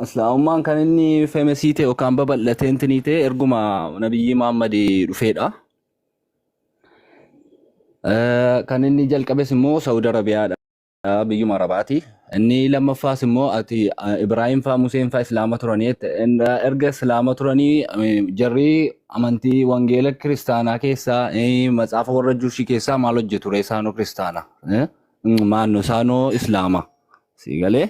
Islaamummaan kan inni femesii ta'e yookaan babal'atee intinii ta'e erguma nabiyyii Muhammad dhufeedha. Eh, Kan inni jalqabes immoo Saudi Arabiyaadha. Biyyuma Arabaati. Inni lammaffaas immoo ati eh, Ibrahim faa Museen faa Islaama turanii jette. In- eh, erga Islaama turanii eh, jarri amantii wangeela kiristaanaa keessaa eh, matsaafa warra Juushii keessaa maal hojjetu ree isaanoo kiristaana? Eh? Mm, Maannoo isaanoo Islaama. Sii galee?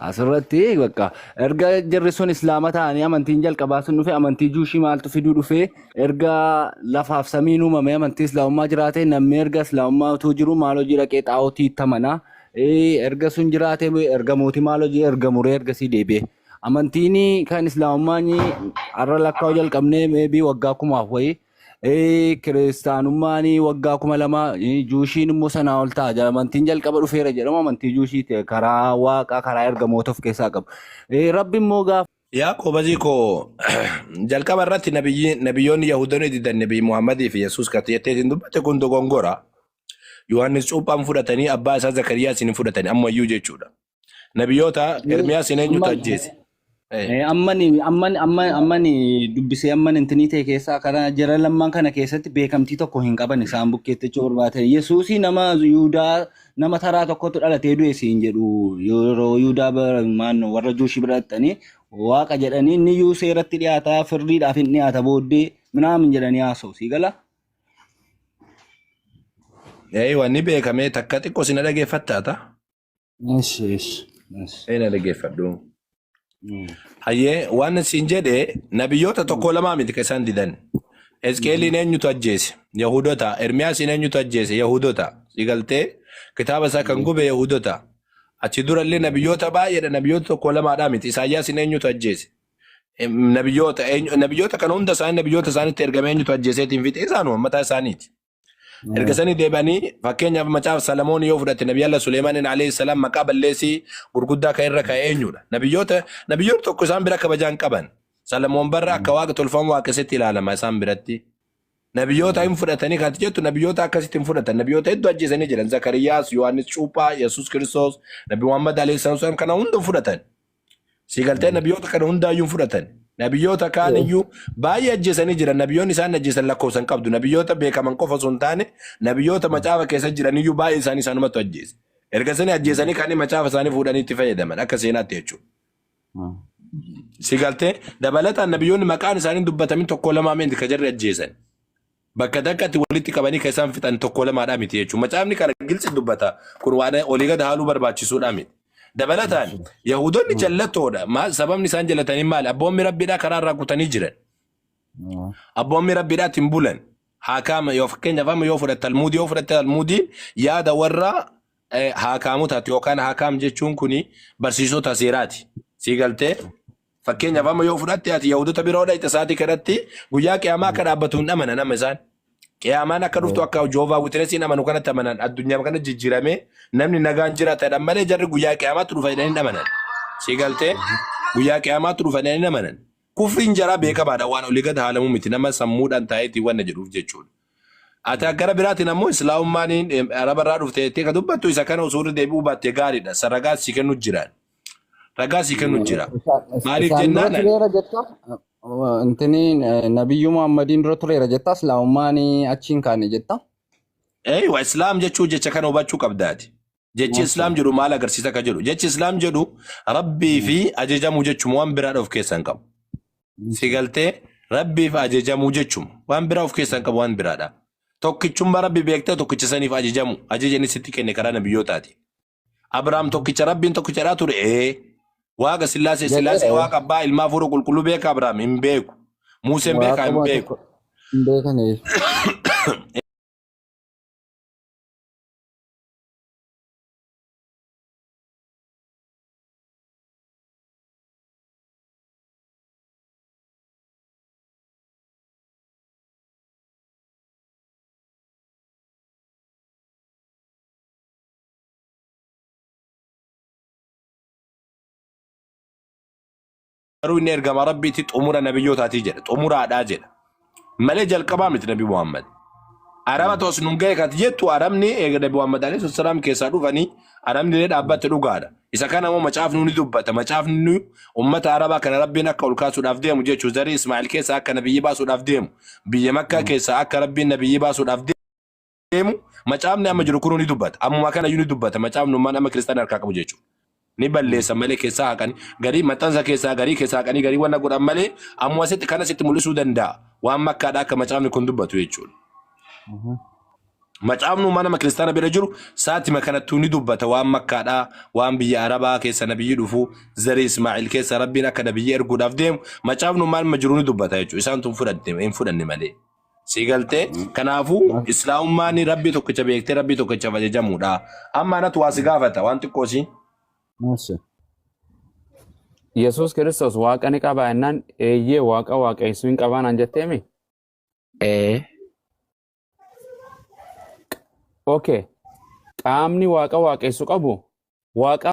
Asirratti bakka erga jarri sun islaama ta'anii amantiin jalqabaa sun dhufe amantii juushii maaltu fiduu dhufe erga lafaaf samiin uumame amantii islaamummaa jiraate namni erga islaamummaa utuu jiru maal hojii dhaqee xaa'otii itti amana Eh, erga sun jiraate erga mootii maal hojii erga muree ergasii deebi'e amantiin kan islaamummaa har'a lakkaa'uu jalqabnee meebii waggaa kumaaf wayii Ee, kiristaanummaan waggaa kuma lama ee, juushiin immoo sanaa ol ta'a jedha. amantiin jalqaba dhufeera jedhama amantii juushii ta'e karaa waaqaa karaa ergamoota of keessaa qabu Ee, rabbi immoo gaafa Yaa qoobazii koo jalqaba irratti nabiyyi- nabiyyoonni Yahudoonni didan nabii Muhammadii fi Yesuus kati jettee isin dubbatte kun dogongora. Yohaannis cuuphaan fudhatanii abbaa isaa Zakariyaa isin hin fudhatanii ammayyuu jechuudha. Nabiyoota Mee Ermiyaasiin eenyutu amma ajjeese? Eh, Eh, ammani ammani amma ammani dubbisee amman intinii ta'e keessaa kana jara lamman kana keessatti beekamtii tokko hin qaban isaan bukkeetti jechuu barbaade yesuusii nama yuudaa nama taraa tokkotu dhalatee du'e siin jedhu yeroo yuudaa bara- maannoo warra juushii bira dhaqxanii waaqa jedhanii inni yuu seeratti dhiyaata firdiidhaaf hin dhiyaata booddee minaamin jedhanii haasa'u sii gala eh, wanni beekamee takka xiqqoo si na dhageeffattaata. Yes, yes, yes. Ee na dhaggeeffadhu. Mm. Hayyee waan siin jedhe nabiyyoota tokko lamaa miti kan isaan didan. Ezqeeliin eenyutu ajjeese? Yahudota. Ermiyaasiin eenyutu ajjeese? Yahudota. Sigaltee kitaaba isaa kan gube Yahudota. Achi durallee nabiyyoota baay'eedha. Nabiyyoota tokko lamaadhaa miti. Isaayyaasiin eenyutu ajjeese? Em, Nabiyyoota eenyu- nabiyyoota kana hunda isaanii nabiyyoota isaaniitti ergame eenyutu ajjeeseetiin fixe isaanuma mataa isaaniiti. Erga sanii deebi'anii fakkeenyaaf macaaf Salamoon yoo fudhatte Nabi Allah Suleemaaniin alayhi salaam maqaa balleessii gurguddaa kan irra ka'e eenyudha? Nabiyyoota nabiyyoota tokko isaan bira kabajaan qaban. Salamoon barra akka waaqa tolfamu waaqessetti ilaalama isaan biratti. Nabiyyoota hin fudhatanii kan jettu nabiyyoota akkasitti hin fudhatan. Nabiyyoota hedduu ajjeesanii jiran. Zakariyaas, Yohaannis Cuuphaa, Yesuus Kiristoos, Nabi Muhammad alayhi salaam kana hunda hin fudhatan. Si galtee nabiyoota kana hundaayyuu hin fudhatan. Nabiyoota kaan iyyuu baay'ee ajjeesanii jiran. Nabiyoonni isaan ajjeesan lakkoofsan qabdu. Nabiyoota beekaman qofa osoo hin taane nabiyoota macaafa keessa jiran iyyuu baay'ee isaanii isaanumatu ajjeese. Erga isanii ajjeesanii kaanii macaafa isaanii fuudhanii itti fayyadaman akka seenaatti jechuudha. Si galtee dabalataan nabiyoonni maqaan isaanii dubbatamin tokko lamaa miti ka jarri ajjeesan. Bakka takkatti walitti qabanii kan isaan fixan tokko lamaadhaa miti jechuudha. Macaafni kana gilci dubbata. Kun waan olii gad haaluu barbaachisuudhaa miti. Dabalataan Yahudoonni jallattoodha. Maal sababni isaan jallatanii maali? Abboommi rabbiidhaa karaa irraa kutanii jiran. Abboommi rabbiidhaatti hin bulan. Haakaama yoo fakkeenyaaf amma yoo fudhatte almuudii yoo fudhatte almuudiin yaada warra eh, haakaamotaati yookaan haakaam jechuun kuni barsiisota seeraati. Sii galtee? Fakkeenyaaf amma yoo fudhatte ati Yahudota biroo dhayxe sa'aatii kanatti guyyaa qiyaamaa akka dhaabbatu hin amanan amma isaan. Qiyaamaan akka dhuftu akka Joovaa Witinesiin amanu kanatti amanan addunyaa kana jijjiiramee namni nagaan jiraatadhan malee jarri guyyaa qiyaamaatti dhufa jedhanii hin amanan. Si galtee guyyaa qiyaamaatti dhufa jedhanii hin amanan. Kufriin jaraa beekamaadha waan olii gad haalamu miti nama sammuudhaan taa'eeti wanna jedhuuf jechuudha. Ati gara biraatiin ammoo islaamummaan araba irraa dhufte jettee ka dubbattu isa kana osoo irra deebi'uu baatte gaariidha. Saragaas si kennu jiraan. Ragaa sii kennu jira. Maaliif Isaan dura jennaan tureera jetta. Intini nabiyyuu Muhammadiin dura tureera jetta. Islaamummaan achiin kaane jetta. Ee wa islaam jechuu jecha kana hubachuu qabdaati. Jechi Maasha islaam jedhu maal agarsiisa akka jedhu. Jechi islaam jedhu rabbii fi ajajamuu jechuma waan biraa of keessaa hin qabu. Si galtee rabbiif ajajamuu jechuma waan biraa of keessaa hin qabu waan biraadha. Tokkichummaa rabbi beektee tokkicha saniif ajajamu ajajani sitti kenne karaa nabiyyootaati. Abrahaam tokkicha Rabbiin tokkichadhaa ture. Ee. Waaqa Sillaasee Jedhee Sillaasee ta'e. Waaqa Abbaa Ilmaa Fuura Qulqulluu beeka Abrahaam hin beeku. Muuseen beekaa hin Waaquma beeku. tokko hin beekaniif. garuu inni ergama rabbiitti xumura nabiyyootaati jedha xumuraadhaa jedha malee jalqabaa miti nabi muhammad araba tos nun ga'e kati jettu arabni eega nabi muhammad alayhi salaam keessaa dhufanii arabni illee dhaabbatti dhugaadha isa kana immoo macaafni ni dubbata macaafni nu ummata arabaa kana rabbiin akka ol kaasuudhaaf deemu jechuu zarii ismaa'il keessaa akka nabiyyi baasuudhaaf deemu biyya makkaa keessaa akka rabbiin nabiyyi baasuudhaaf deemu deemu macaafni amma jiru kunuu ni dubbata. Ammuma kana iyyuu ni dubbata. Macaafni ummaan amma kiristaana harkaa qabu jechuudha. Ni balleessa malee keessaa haqanii garii maxxansa keessaa garii keessaa haqanii garii wanna godhan malee ammuma sitti kana sitti mul'isuu danda'a. Waan makkaadha akka macaafni kun dubbatu jechuudha. Macaafni ummaa nama kiristaana bira jiru saatima kanattuu ni dubbata waan makkaadhaa waan biyya arabaa keessa nabiyyi dhufu zarii ismaa'il keessa rabbiin akka nabiyyi erguudhaaf deemu macaafni ummaa nama jiru ni dubbata jechuudha isaan tun fudhatte hin fudhanne malee. Si galtee kanaafuu islaamummaan rabbii tokkicha beektee rabbii tokkichaaf ajajamuudha. Amma anatu waa si gaafata waan xiqqoo siin. Maalsi? Yesuus Kiristoos waaqa ni qabaa jennaan eeyyee waaqa waaqeessuu hin qabaa naan jetteemi? Ee. Okay. Qaamni waaqa waaqessu qabu waaqa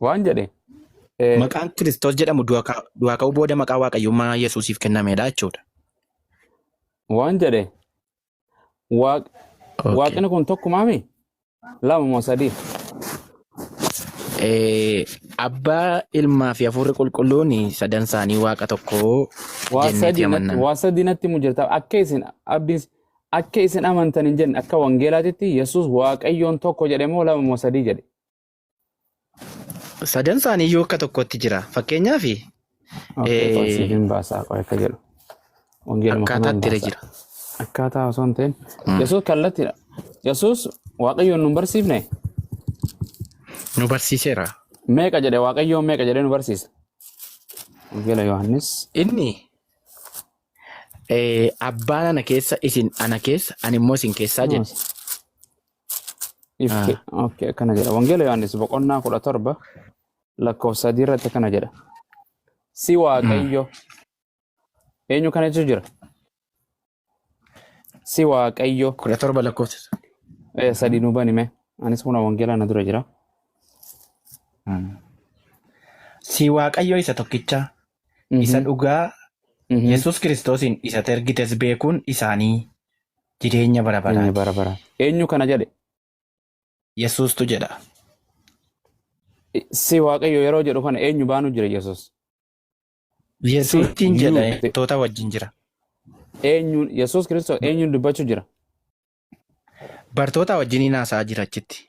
Waan jedhe. eh, Maqaan Kiristoos jedhamu du'a ka- du'aa ka'uu booda maqaa waaqayyummaa Yesuusiif kennamedha jechuudha. Waan jedhe. Waaq- Okay. Waaqni kun tokkumaami? Lama moo sadii? Eh, Abbaa ilmaa fi hafuurri qulqulluun sadan isaanii waaqa tokko Waa jenneeti sadii natti- amanna. waa sadii natti himu jirta. Akka isin abdiin akka isin amantan hin jenne akka wangeelaatitti Yesuus Waaqayyoon tokko jedhe moo lama moo sadii jedhe? Sadan isaanii iyyuu akka tokkotti jira. Fakkeenyaaf Okay, qoy siif hin baasaa qoy akka jedhu. Wangeeluma akkaataa kanaan itti irra baasaa. jira. Akkaataa osoo hin ta'in. Yesuus kallattiidha. Yesuus waaqayyoon nun barsiifne Nu barsiiseera. meeqa jedhe waaqayyoon meeqa jedhee nu barsiisa. Wangeela Yohaannis. Inni eh, abbaan ana keessa isin ana keessa ani immoo isin keessaa jedhe. Ifke. Ah. Okay, akkana jedha. Wangeela Yohaannis boqonnaa kudha torba lakkoofsa sadii irratti akkana jedha. Si waaqayyo eenyu kana jechuun jira? Si waaqayyo Kudha torba lakkoofsa. eh, sadii nu banime. Anis kuna wangeela na dura jira. Si waaqayyo isa tokkicha isa dhugaa Yesuus Kiristoosiin isa ati ergites beekuun isaanii jireenya bara Jireenya baraati. bara baraa. Eenyu kana jedhe? Yesuustu jedha. Si Waaqayyo yeroo jedhu kana eenyu baanu jira Yesuus? Yesuustiin jedha you- ergamtoota wajjin jira. Eenyuun Yesuus Kiristoos eenyuun dubbachuu jira? Bartoota wajjin hin haasa'aa jira achitti.